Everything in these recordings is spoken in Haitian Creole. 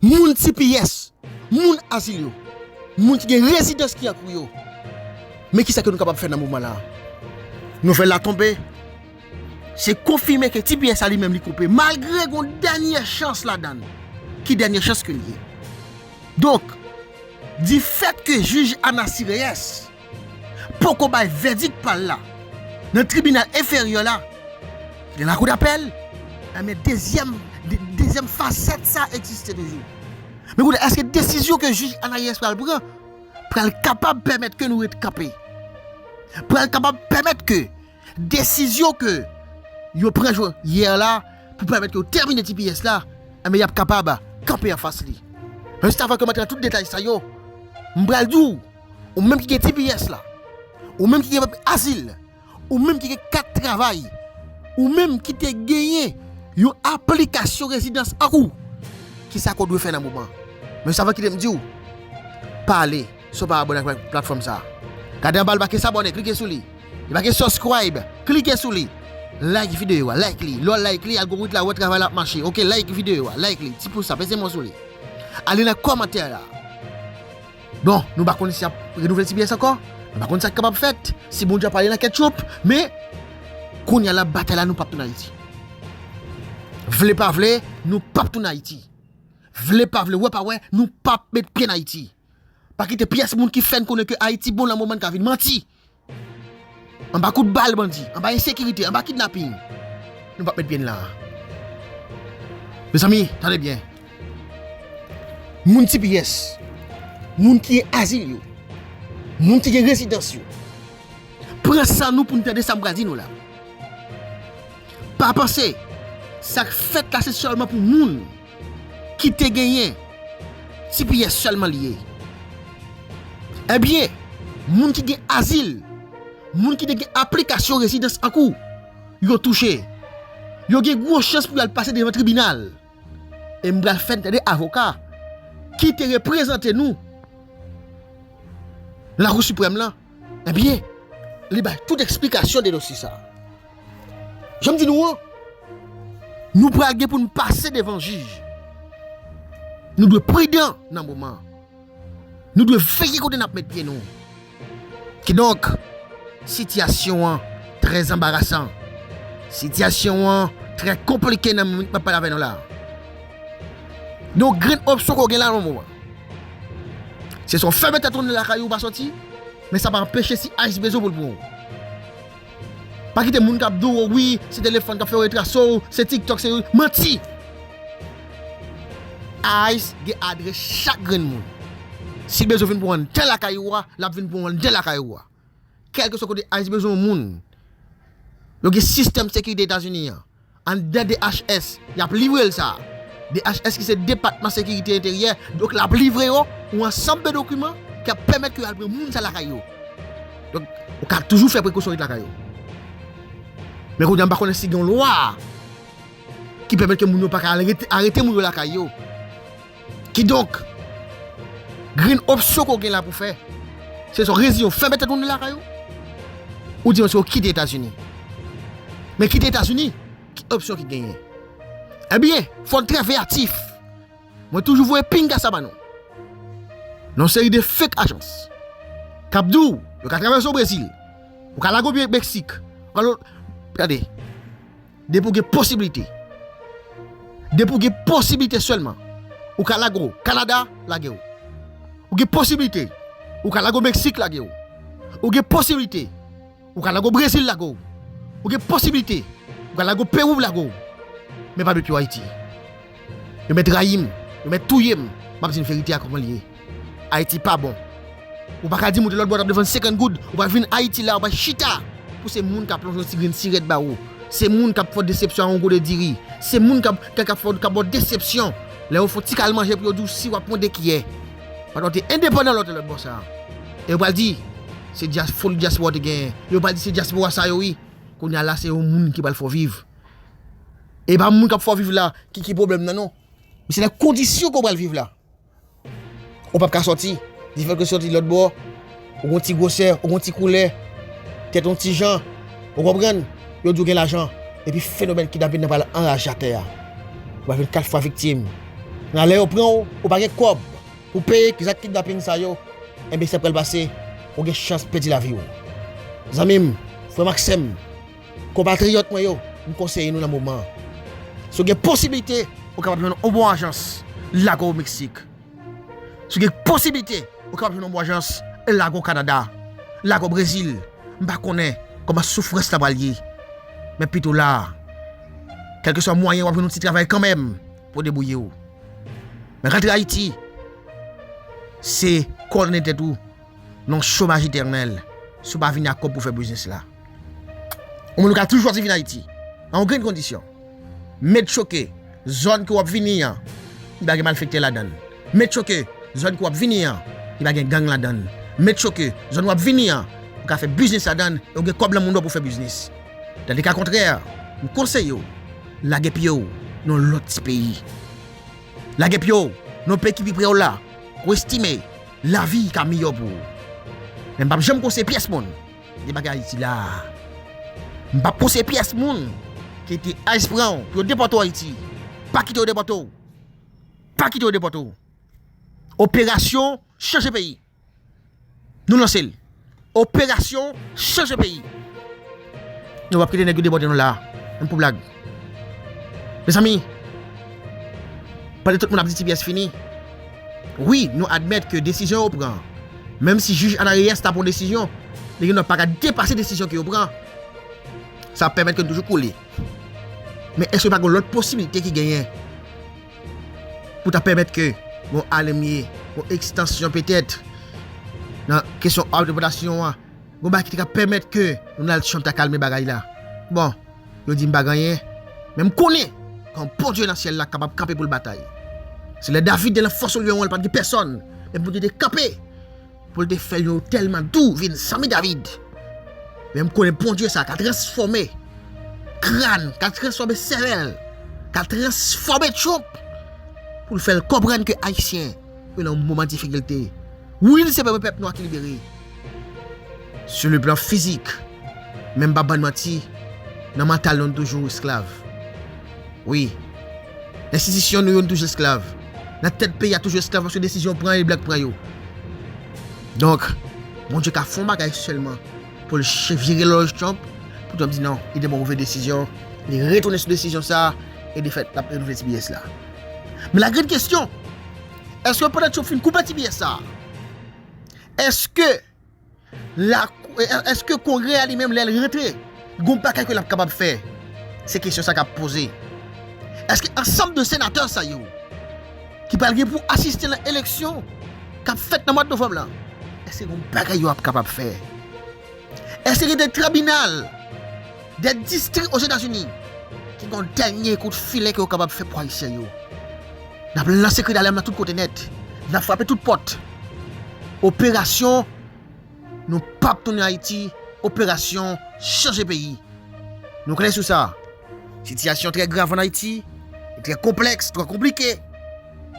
Moun tps, moun azil yo, moun ki gen rezidans ki ak ou yo, men kisa ke nou kapab fè nan moman la. Nouvèl la tonbe, se konfime ke tps la li menm li koupe malgre gon dènyè chans ladann. Ki dènyè chans ke li ye? Donk, di fèt ke jij Anasireyès. poko bay vèdik pa l la nan tribinal enferyè la, gen lakou dapèl, enben dezyèm dezyèm fasèt sa egziste toujou. Men kounye a, èske desizyon ke jij Anayès pral pran pral kapab pèmèt ke nou ret kanpe? Pral kapab pèmèt ke desizyon ke yo pran jò yè la pou pèmèt yo tèmine tps la, enben y ap kapab kanpe anfas li? Rèstavan ke m antre nan tout detay sa yo, m pral di w. Ou menm ki gen tps la, ou menm ki gen papye azil, ou menm ki gen kat travay, ou menm ki te genyen yon aplikasyon rezidans ak ou, ki sa ke w dwe fè nan moman? Men sa mwen kite m di w, pa ale si w pa abòne ak platfòm sa. Gade anba l make s'abonner, klike sou li. Li make subscribe, klike sou li. Like videyo a, like li. Lè w like li, algorith la wè travay la ap mache. Ok, like videyo a, like li. Ti pous la, peze mwen sou li. Ale nan kòmantè la. Bon, nou pa konn si y ap renouvle tps ankò, nou pa konn sa k kapab fèt, si Bondye ap ale nan ketchup, men, kounye a la, batay la, nou p ap tounen Ayiti. Vle pa vle, nou p ap tounen Ayiti. Vle pa vle, wè pa wè, nou p ap met pye nan Ayiti. Pa kite pyès moun ki fè n konnen ke Ayiti bon lanmò bann ka vin manti Anba kout bal bandi, anba ensekirite, anba kidnaping, nou pap met pye n la a. Mezanmi, tande byen, moun tps, moun ki gen azil yo, moun ki gen rezidans yo, pran san nou pou nou tande sa m pral di nou la. Pa panse, sa k fèt la se sèlman pou moun. kite genyen tps selman liye ebyen moun ki gen azil moun ki te gen aplikasyon rezidans ankou yo touche yo gen gwo chans pou yal pase devan tribinal e m bal fè tande avoka kite reprezante nou la kou siprèm lan. Ebyen, li bay tout eksplikasyon de dosye sa a. Jan m di nou an, nou pral gen pou nou pase devan jij. Nou dwe pridan nan moman an. Nou dwe veye kote n ap met pye nou. Kidonk, sitiyasyon an trè anbarasan. Sitiyasyon an trè konplike nan moman m ap pale avè nou la a. Yon grenn opsyon ke w gen la nan moman an. Se sa w fè mete tounen lakay ou pa soti, men sa pa anpeche si ice bezwen pou l pran w. Pa kite moun kap di w wi se telefòn kap fè yo retrase w, se tiktok se rezo, manti! Ice gen adrès chak grenn moun. Si l bezwen vin pran w anndan lakay ou a, lap vin pran w anndan lakay ou a. Kèlkeswa kote Ayiti bezwen yon moun, yo gen sistèm sekirite Etazini an. Anndan DHS, y ap livre l sa. DHS ki se Depatman Sekirite Enteryè, donk l ap livre yo yon ansanm de dokiman ki ap pèmèt ke yo al pran moun sa lakay yo. Donk, ou ka toujou fè prekosyon ret lakay ou. Men kounye a m pa konnen si gen yon lwa ki pèmèt ke moun yo pa ka al arete moun yo lakay yo. Kidonk, grenn opsyon ke w gen la pou w fè, se swa w reziyen w fèmen tèt ou nan lakay ou, oubyen se w kite Etazini. Men kite Etazini, ki opsyon ki genyen? Ebyen, fò n trè veyatif. Mwen toujou voye pinga sa ba nou. Nan yon seri de fake ajans, k ap di w yo ka travèse w Brezil, yo ka lage w Meksik, gade. Depi w gen posibilite, depi w gen posibilite sèlman, ou ka lage w Kanada, lage w. Ou gen posibilite, ou ka lage w Meksik, lage w. Ou gen posibilite, ou ka lage w Brezil, lage w. Ou gen posibilite, ou ka lage w Pewou, lage w. Men pa depi w Ayiti. Yo mèt rayim, yo mèt touyem, map dinn verite a koman li ye. Ayiti pa bon. Ou pa ka dim ou te lòtbò tap defann 50 goud, ou pral vinn Ayiti la ou pral chita pou se moun ka plonje yon ti grenn sirèt ba ou, se moun kap fè w desepsyon ak yon gode diri, se moun kap kap fè w kap ba w desepsyon lè yo fè w ti kal manje pou yo di w si wap pran 2 kiyè. Paske w te endepandan lè w te lòtbò sa. E yo pral di se dyas foli dyaspora te genyen. Yo pral di se dyaspora sa yo wi. Kounya la se yon moun ki pral fè w viv. E pa moun kap fè w viv la ki ki pwoblèm nan non. Men se nan kondisyon ke w pral viv la. Ou pap ka sòti. Di fè ke w sòti lòtbò, ou gon ti gwosè, ou gon ti koulè, tèt ou yon ti jan. Ou konprann? Yo di w gen lajan. Epi fenomèn kidnapin nan pral anraje atè a. Ou pral vin 4 fwa viktim. Nan lè yo pran w, ou pa gen kòb pou w peye zak kidnapin sa yo. Enben sa pral pase, ou gen chans pèdi lavi w. Zanmi m, frè m ak sè m. Konpatriyòt mwen yo, m konseye nou nan moman an, si w gen posiblite, ou kapab jwenn yon bon ajans Lago Meksik, si w gen posiblite, ou kapab jwenn yon bon ajans Lago Kanada, Lago Brezil, m pa konnen kòman soufrans la pral ye, men pito la, kèlkeswa mwayen wap jwenn yon ti travay kanmenm pou w debouye w. Men rantre Ayiti, se kondane tèt ou nan yon chomaj etènèl si w pa vini ak kòb pou w fè biznis la. Yon moun ou ka toujou chwazi vin Ayiti, a yon grenn kondisyon, mèt sho ke zòn ke w ap vini an, li pa gen malfektè ladan l, mèt sho ke zòn ke w ap vini an, li pa gen gang ladan l, mèt sho ke zòn w ap vini an, ou ka fè biznis ladan l e w gen kòb nan moun ou pou w fè biznis. Nan deka kontrè, m konseye w lage pye w nan yon lòt ti peyi. Lage pye w nan yon peyi ki pi pre w la, ou estime lavi ka miyò pou ou. Men m p ap janm konseye pyès moun. Debake Ayiti la a. M pap pouse pyès moun ki te ice pran w pou yo depòte w Ayiti. Pa kite yo depòte w. Pa kite yo depòte w. Operasyon chanje peyi. Nou lanse l. Operasyon chanje peyi. Nou pap kite nèg yo depòte nou la a. M pou blag. Mezanmi! Pandan tout moun ap di tps fini, wi nou admèt ke desizyon yo pran, menm si jij Ana Reyes ta pran desizyon, li gendwa pa ka depase desizyon ke yo pran, sa ap pèmèt ke nou toujou kole. Men èske pa gen yon lòt posiblite ki genyen pou ta pèmèt ke yon alemye, yon ekstansyon petèt nan kesyon òg depòtasyon an, yon bagay ki te ka pèmèt ke Donald Trump ta kalme bagay la? Bon. Yo di m pa gen anyen, men m konnen kon Bondye nan syèl la kapab kanpe pou l batay. Se lè David te nan fòs Olyon an, li pa t gen pèsòn, men Bondye te kanpe pou l te fè yon otèl Madou vin sanble David. Men m konnen Bondye sa a ka transfòme kran, ka transfòme sèvèl, ka transfòme tchonp pou l fè l konprann ke Ayisyen Mwen nan yon moman difikilte. Wi li se premye pèp nwa ki libere. Sou le plan fizik. Men m pa bann manti, nan mantal nou nou toujou esklav. Wi. Enstitisyon nou yo nou toujou esklav. Nan tèt peyi a toujou esklav paske desizyon yo pran e blan k pran yo. Donk, Bondye ka fè yon bagay sèlman pou l chevire lòj Trump, pou Trump di non, li te pran move desizyon, li retounen sou desizyon sa e defèt l ap renouvle tbs la. Men la grenn kesyon, eske pandan yo fin koupe ti pyès sa a, eske la, eske kongrè a li menm lè l rantre, gon bagay ke l ap kapab fè? Se kesyon sa k ap poze. Eske ansanm de senatè sa yo, ki pral gen pou asiste nan eleksyon k ap fèt nan mwad novanm lan, eske gon bagay yo ap kapab fè? Èske gen de tribinal, de distri Ozetazini ki gen yon dènye kout filen ke yo kapab fè pou Ayisyen yo? N ap lanse kri dalèm nan tout kote nèt. N ap frape tout pòt. Operasyon Nou pap tounen Ayiti, operasyon chanje peyi. Nou klè sou sa. Sitiyasyon trè grav an Ayiti, li trè konplèks, twò konplike.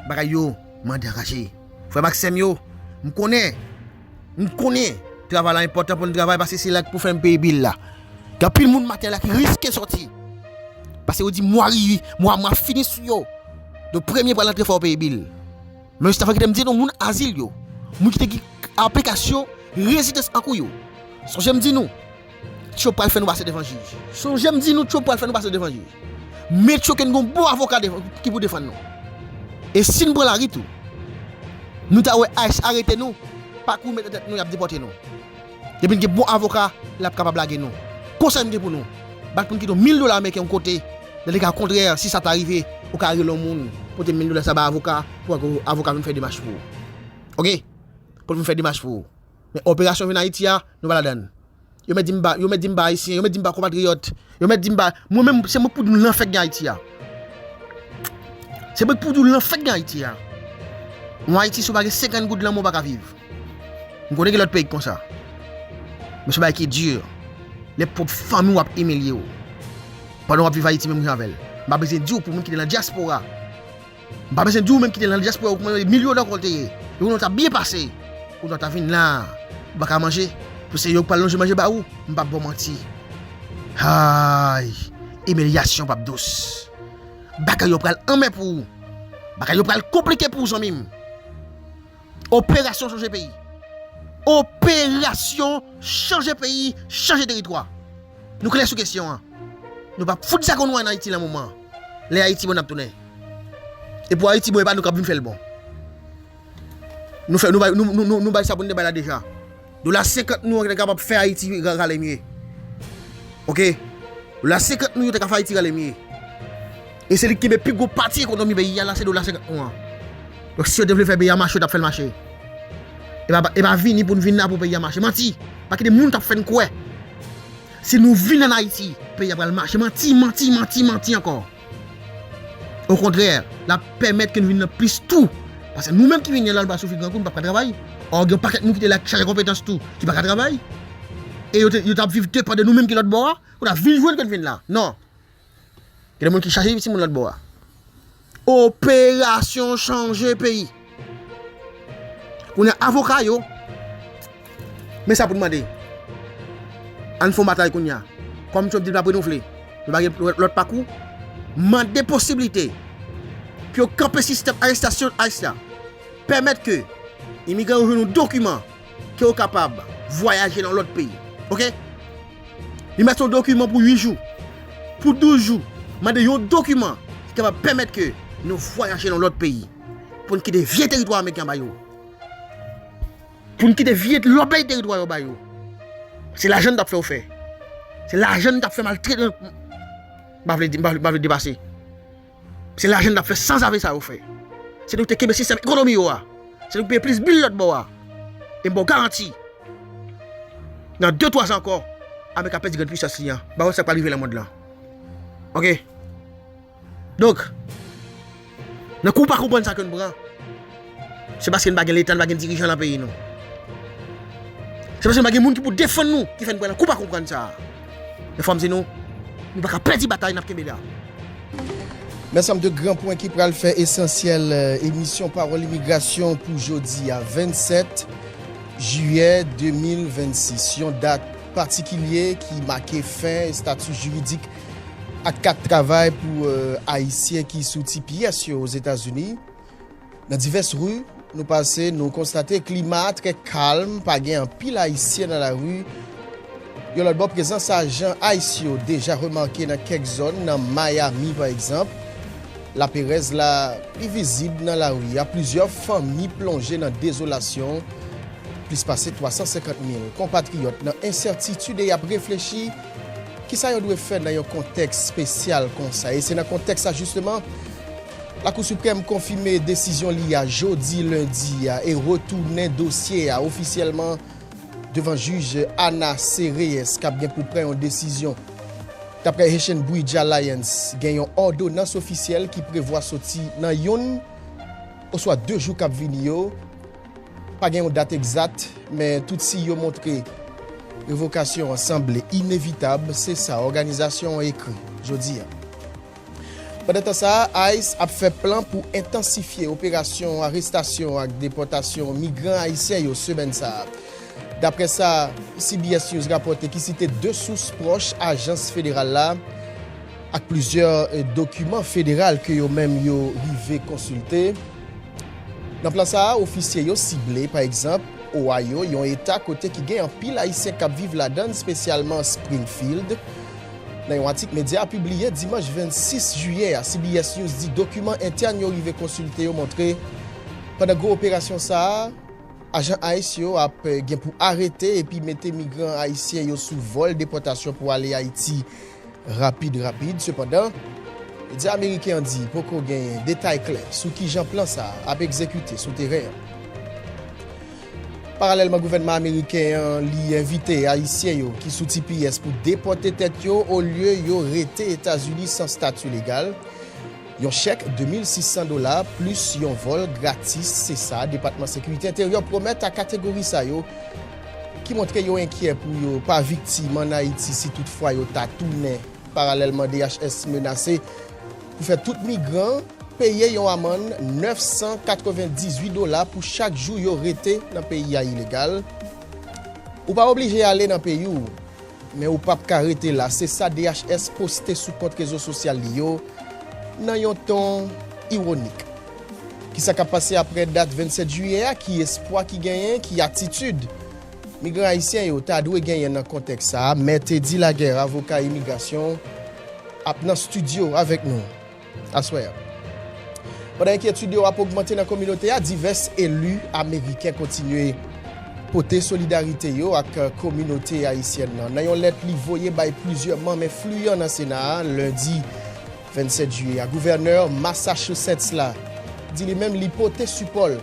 Bagay yo mande anraje. Frè m ak sè m yo, m konnen. M konnen travay la enpòtan pou n travay paske se la k pou fè n peye bil la. Gen anpil moun maten la ki riske sòti paske yo di mwa rive, mwa mwa fini sou yo. Donk premye pral antre fò w peye bil. Men jis avan kite m di nou moun azil yo, moun ki te gen aplikasyon rezidans an kou yo. Sonje m di nou. Tyo pral fè nou pase devan jij. Sonje m di nou Tyo pral fè nou pase devan jij. Men Tyo ken gon bon avoka ki pou defann nou. E si n pran lari tou. Nou ta wè ice arete nou, pa kou met nan tèt nou y ap depòte nou. Depi n gen bon avoka, l ap kapab lage nou. Konsèy m gen pou nou, bat pou n kite yon mil dola ameriken yon kote, nan le ka kontrè, si sa ta rive, ou ka rele yon moun, pote mil dola sa bay avoka, pou avoka vin fè demach pou ou. Ok? Pou l vin fè demach pou ou. Men operasyon vin Ayiti a, nou pa ladan. Yo mèt di m pa, yo mèt di m pa Ayisyen, yo mèt di m pa konpatriyòt, yo mèt di m pa, mwen menm se mwen k pou di w lanfè k gen Ayiti a. Se mwen k pou di w lanfè k gen Ayiti a. Yon Ayiti si w pa gen 50 goud lan men w pa ka viv. M konnen gen lòt peyi k konsa. Men se bagay ki di, lè pwòp fanmi w ap imilye w. Pandan w ap viv Ayiti menm jan avè l. M pa bezwen di w pou moun ki te nan dyaspora. M pa bezwen di ou menm ki te lan dyaspora ou ki mande mil yo dan kòl te ye e kounye ou ta byen pase kounye ou ta vin la ou paka manje pou se yo ki pral lonje manje ba ou m pap baw manti hay imilyasyon pap dous bagay yo pral anmè pou ou bagay yo pral konplike pou ou zanmi m operasyon chanje peyi operasyon chanje peyi chanje teritwa nou klè sou kesyon an nou pap fout zago nou an ayiti lan moman. Lè Ayiti bon nap tounen E pou Ayiti bon e pa nou kap vin fèl bon Nou fè nou bay nou bay sa poun te bay la deja Dola 50 nou an te kapab fè Ayiti rale mye Ok Dola 50 nou yo te ka fè Ayiti rale mye E se li ki kenbe pi gwo pati ekonomi peyi a la se dola 50 nou an Donk si yo te vle fè peyi a mache yo tap fèl mache E pa vini poun vin la pou peyi a mache Manti Pa kite moun kap fèn kwè. Si nou vin an Ayiti, peyi a pral mache manti, manti, manti, manti ankò. Okontrè, l ap pèmèt ke nou vin nan plis tou. Paske nou menm ki vini an la, nou pral soufri gran kou, nou pap ka travay. Ò gen yon pakèt moun ki te la ki chaje konpetans tou, ki pa ka travay. E yo t ap viv depan de nou menm ki lòt bò a. Kounye a, vin jwenn ke n vin la. Non! Gen de moun ki chache ui timoun lòtbò a. Operasyon chanje peyi. Kounye avoka yo. Men sa pou nou mande. Ann fon batay kounye. Kòm Trump di l pa prenouvle. Li pa gen lòt pakou. Mande posibilite. Pou yo kanpe sistèm arestasyon ice la. Pèmèt ke imigran yo jwenn yon dokiman ke yo kapab vwayaje nan lòt peyi. Ok? Li mèt yon dokiman pou 8 jou, pou 12 jou, mande yon dokiman ki kapab pèmèt ke nou vwayaje nan lòt peyi, pou n kite vye teritwa Ameriken an ba yo, pou n kite vye lòbèy teritwa yo ba yo. Se lajan nou t ap fè yo fè. Se lajan nou t ap fè maltretans. M pa vle depase. Se lajan n ap fè sanzave sa yo fè. Se nou ki te kenbe sistèm ekonomi yo a. Se nou ki peye plis bil lòtbò a. E m ba w garanti, nan de twazan ankò, Amerik ap pèdi grenn puisans li an. Ba w wè sa k pral rive nan mond lan. Oke? Donk, nan kou pa konprann sa ke n pran. Se paske n pa gen leta, n pa gen dirijan lan peyi nou. Se paske n pa gen moun ki pou defann nou ki fè n pran nan kou pa konprann sa a. Men fò m di nou, nou pa ka pèdi batay n ap kenbe la. Men ansanm de gran pwen ki pral fè esansyèl emisyon Pawòl Imigrasyon pou jodi a, 27 jiyè 2026. Yon dat patikilye ki make fen estati jiridik ak kat travay pou Ayisyen ki sou ti pyès yo Ozetazini. Nan divès ri nou pase, nou konstate klima a trè kalm, pa gen anpil Ayisyen nan lari. Yon lòt bò, prezans ajan ice yo deja remake nan kèk zòn, nan Miami pa egzanp. Laperèz la pi vizib nan lari a, plizyè fanmi plonje nan dezolasyon, plis pase 350 mil konpatriyòt nan ensètitid e y ap reflechi kisa yo dwe fè nan yon kontèks spesyal konsa. E se nan kontèks sa jisteman, Lakou Siprèm konfime desizyon li a jodi lendi a e retounen dosye a ofisyèlman devan jij Ana C. Reyes k ap gen pou pran yon desizyon. Daprè Haitian Bridge Alliance, gen yon òdonans ofisyèl ki prevwa soti nan youn oswa de jou k ap vini yo. Pa gen yon dat egzat, men tout siy yo montre revokasyon an sanble inevitab, se sa òganizasyon an ekri jodi a. Pandantan sa, ice ap fè plan pou entansifye operasyon arestasyon ak depòtasyon migran ayisyen yo semèn sa a, daprè sa CBS News rapòte ki site 2 sous pwòch ajans federal la ak plizyè dokiman federal ke yo menm yo rive konsilte. Nan plan sa a, ofisye yo sible, pa egzanp, Ohio, yon eta kote ki gen anpil ayisyen k ap viv ladan l, spesyalman Springfield. Nan yon atik medya a pibliye dimanch 26 jiyè a, CBS News di dokiman entèn yo rive konsilte yo montre pandan gwo operasyon sa a, ajan ice yo ap gen pou arete epi mete migran ayisyen yo sou vòl depòtasyon pou ale Ayiti rapid rapid. Sepandan, medya ameriken an di poko gen detay klè sou kijan plan sa a ap egzekite sou teren an. Paralèlman gouvènman ameriken an li envite ayisyen yo ki sou tps pou depòte tèt yo olye yo rete Etazini san stati legal. Yon chèk 2600 dola plis yon vòl gratis se sa Depatman Sekirite Enteryè pwomèt a kategori sa yo ki montre yo enkyè pou yo pa viktim ann Ayiti si tout fwa yo ta tounen. Paralèlman DHS menase. pou fè tout migran an peye yon amann 998 dola pou chak jou yo rete nan peyi a ilegal. Ou pa oblije ale nan peyi w, men ou pap ka rete la, se sa DHS poste sou kont rezo sosyal li yo nan yon ton ironik. Kisa k ap pase aprè dat 27 jiyè a? Ki espwa ki genyen? Ki atitid Migran ayisyen yo ta dwe genyen nan kontèks sa a, Me Teddy Laguerre, avoka imigrasyon, ap nan stidyo avèk nou aswè a. Pandan enkyetid yo ap ogmante nan kominote a, divès eli ameriken kontinye pote solidarite yo ak kominote ayisyèn nan. Nan yon lèt li voye bay plizyè manm enfliyan nan Sena a lendi 27 jiyè a, gouvènè Massachusetts la di li menm li pote sipò l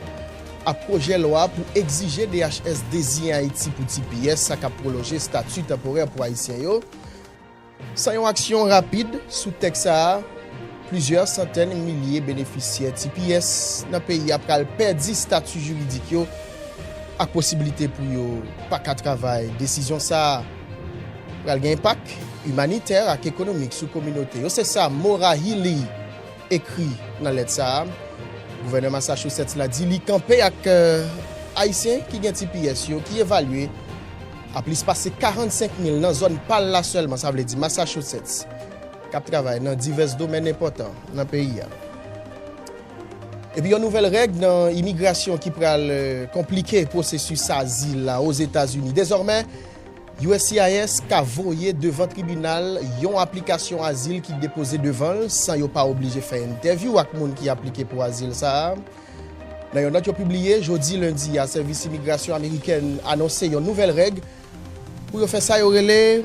ak pwojè lwa pou egzije DHS deziyen Ayiti pou tps sa k ap pwolonje stati tanporè pou Ayisyen yo, san yon aksyon rapid sou tèks sa a, plizyè santèn milye benefisyè tps nan peyi a pral pèdi stati jiridik yo ak posibilite pou yo pa ka travay. Desizyon sa a pral gen enpak imanitè ak ekonomik sou kominote yo, se sa Morahili, Ekri nan lèt sa a, Gouvènè Massachusetts la di li kanpe ak Ayisyen ki gen tps yo ki evalye a plis pase 45 mil nan zòn pa l la sèlman, sa vle di Massachusetts, k ap travay nan divès domèn enpòtan nan peyi a. Epi yon nouvèl règ nan imigrasyon ki pral konplike pwosesis azil la Ozetazini. Dezòmè. Uscis ka voye devan tribinal yon aplikasyon azil ki depoze devan l san yo pa oblije fè entèvyou ak moun ki aplike pou azil sa a. Nan yon nòt yo pibliye jodi lendi a, Sèvis Imigrasyon Amerikèn anonse yon nouvèl règ pou yo fè sa yo rele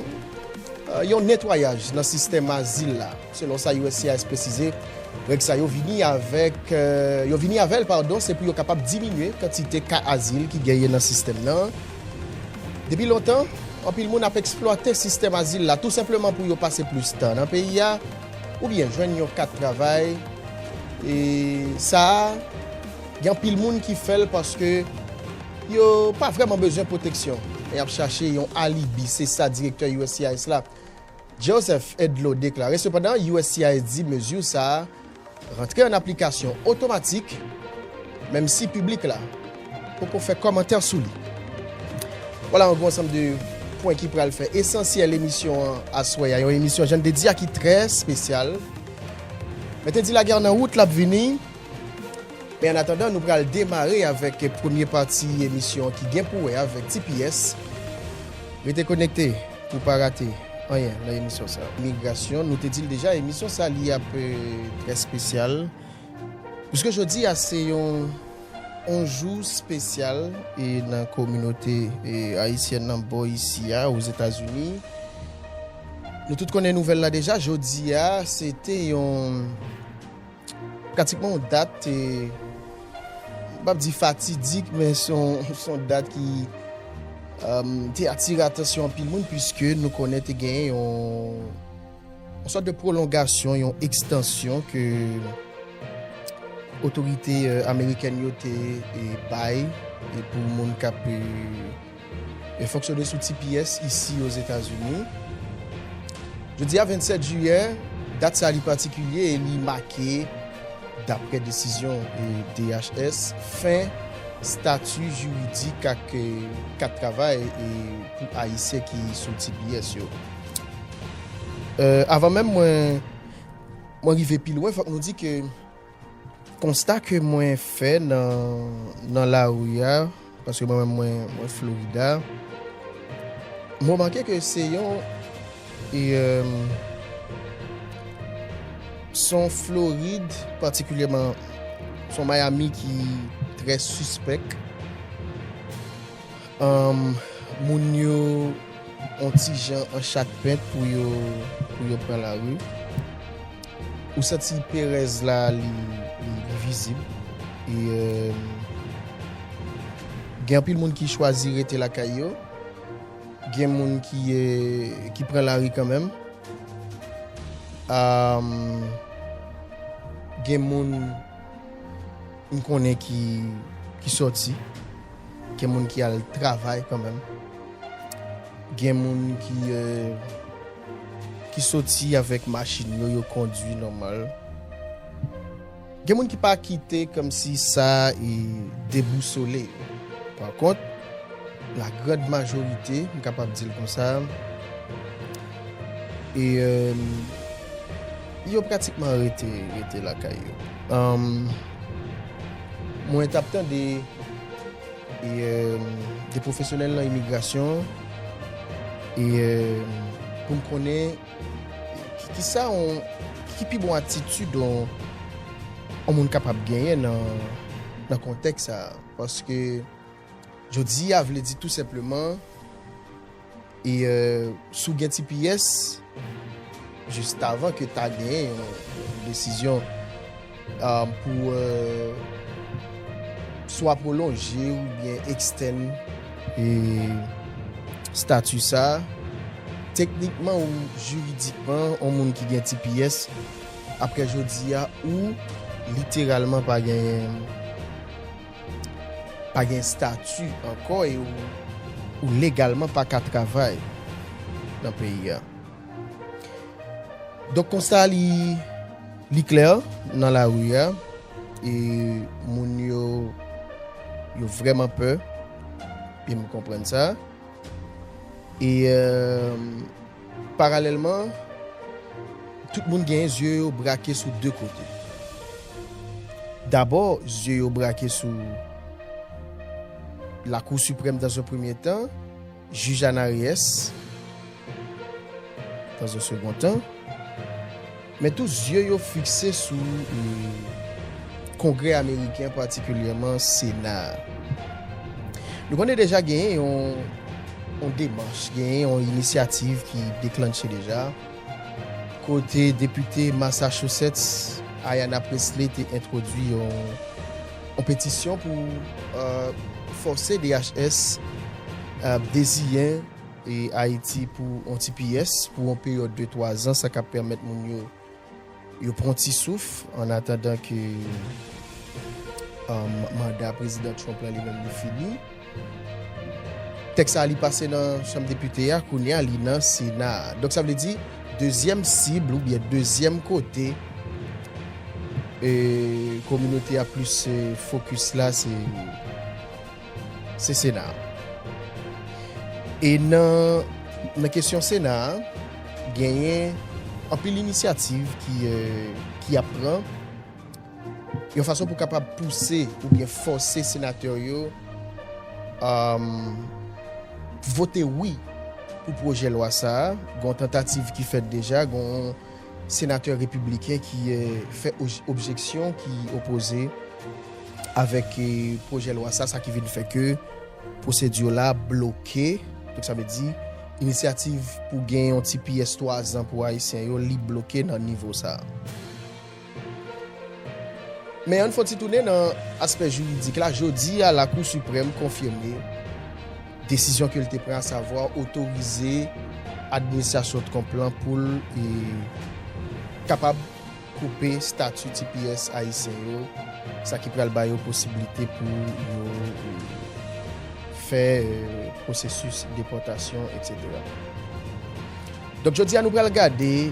yon netwayaj nan sistèm azil la. Selon sa uscis presize, règ sa yo vini avèk yo vini avè l padon se pou yo kapab diminye kantite ka azil ki genyen nan sistèm nan. Depi lontan, anpil moun ap eksplwate sistèm azil la tou senpleman pou yo pase plis tan nan peyi a oubyen jwenn yon kat travay e sa a gen anpil moun ki fè l paske yo pa vrèman bezwen pwoteksyon men y ap chache yon alibi, se sa direktè uscis la, Joseph Edlow deklare sepandan uscis di mezi sa a rantre an aplikasyon otomatik menm si piblik la poko fè kòmantè sou li. Wala an gwo ansanm de pwen ki pral fè esansyèl emisyon an aswè a, yon emisyon jan n te di a ki trè spesyal. Mwen te di lagè an nan wout l ap vini. Men an atandan nou pral demare avèk premye pati emisyon an ki gen pou wè avèk tps. Rete konekte pou pa rate anyen nan emisyon sa. Migrasyon, nou te di l deja emisyon sa li ap trè spesyal puiske jodi a se yon yon jou spesyal e nan kominote ayisyèn nan bò isi a Ozetazini. Nou tout konnen nouvèl la deja, jodi a se te yon. Pratikman yon dat, m pap di fatidik, men se yon dat ki te atire atansyon anpil moun, puiske nou konnen te gen yon sòt de pwolongasyon, yon ekstansyon ke otorite amerikèn yo te bay pou moun k ap. E fonksyone sou ti pyès isi Ozetazini. Jodi a 27 jiyè, dat sa li patikilye e li make, daprè desizyon DHS, fen stati jiridik ak kat travay pou Ayisyen ki sou ti pyès yo. Avan menm mwen rive pi lwen, fòk nou di ke. Konsta ke mwen fè nan lari a, paske mwen menm mwen Florida, mwen remake ke se yon, se yon Florid patikilyèman, se yon Miami ki trè sispèk. Moun yo yon ti jan an chat pent pou yo pran lari. Ou santi perèz la li vizib e gen anpil moun ki chwazi rete lakay yo, gen moun ki pran lari kanmenm, gen moun m konnen ki sòti, gen moun ki al travay kanmenm, gen moun ki. Ki soti avèk machin yo, yo kondwi nòmal. Gen moun ki pa kite kòmsi sa debousole yo. Pakont, lagrand majorite, m kapab di l konsa, yo pratikman rete lakay yo. Mwen t ap tande. de pwofesyonèl nan imigrasyon pou m konnen ki pi bon atitid yon moun kapab genyen nan kontèks sa a. Paske jodi a vle di tou senpleman. E si w gen ti pyès, jistavan ke ta gen yon desizyon pou swa pwolonje oubyen ekstèn stati sa, teknikman ou jiridikman yon moun ki gen ti pyès, apre jodi a ou literalman pa gen. pa gen stati ankò e ou legalman pa ka travay nan peyi a. Donk konsa li klè nan lari a e moun yo yo vrèman pè e m konprann sa e. Paralèlman, tout moun genyen zye yo brake sou de kote. Dabò, zye yo brake sou Lakou Siprèm dan zon premye tan, Jij Anariyès dan zon segon tan. Men tout zye yo fikse sou Kongrè ameriken, patikilyèman Sena a. Nou konnen deja genyen yon demach, genyen yon inisyativ ki deklannche deja, kote depite Massachusetts Ayanna Pressley te entwodui yon petisyon pou fòse DHS deziyen Ayiti pou yon ti pyès, pou yon peryòd de 3 zan, sa kap pèmèt moun yo, yo pran yon ti souf, an atandan ke manda Prezidan Trump la li menm li fini. Tèks sa a li pase nan chanm depite a, kounye a li nan sena a. Donk sa vle di, dezyèm sib ou byen dezyèm kote kominote a plis fokis la se se sena a. E nan kesyon sena a, genyen anpil inisyativ ki ap pran yon fason pou kapab pouse ou byen fòse senatè yo vote wi pou pwojè lwa sa a. Gon tantativ ki fèt deja, gon Senatè Repibliken ki fè objeksyon ki opoze avèk pwojè lwa sa, sa ki vin fè ke pwosedi la bloke. Donk sa vle di inisyativ pou gen yon tps 3 zan pou Ayisyen yo li bloke nan nivo sa. Men ann fon ti tounen nan aspè jiridik la, jodi a Lakou Siprèm konfime. Desizyon ke l te pran asavwa otorize administrasyon Trump lan pou l kapab koupe stati tps ayisyen yo, sa ki pral ba yo posiblite pou yo fè pwosesis depòtasyon etc. Donk jodi a nou pral gade.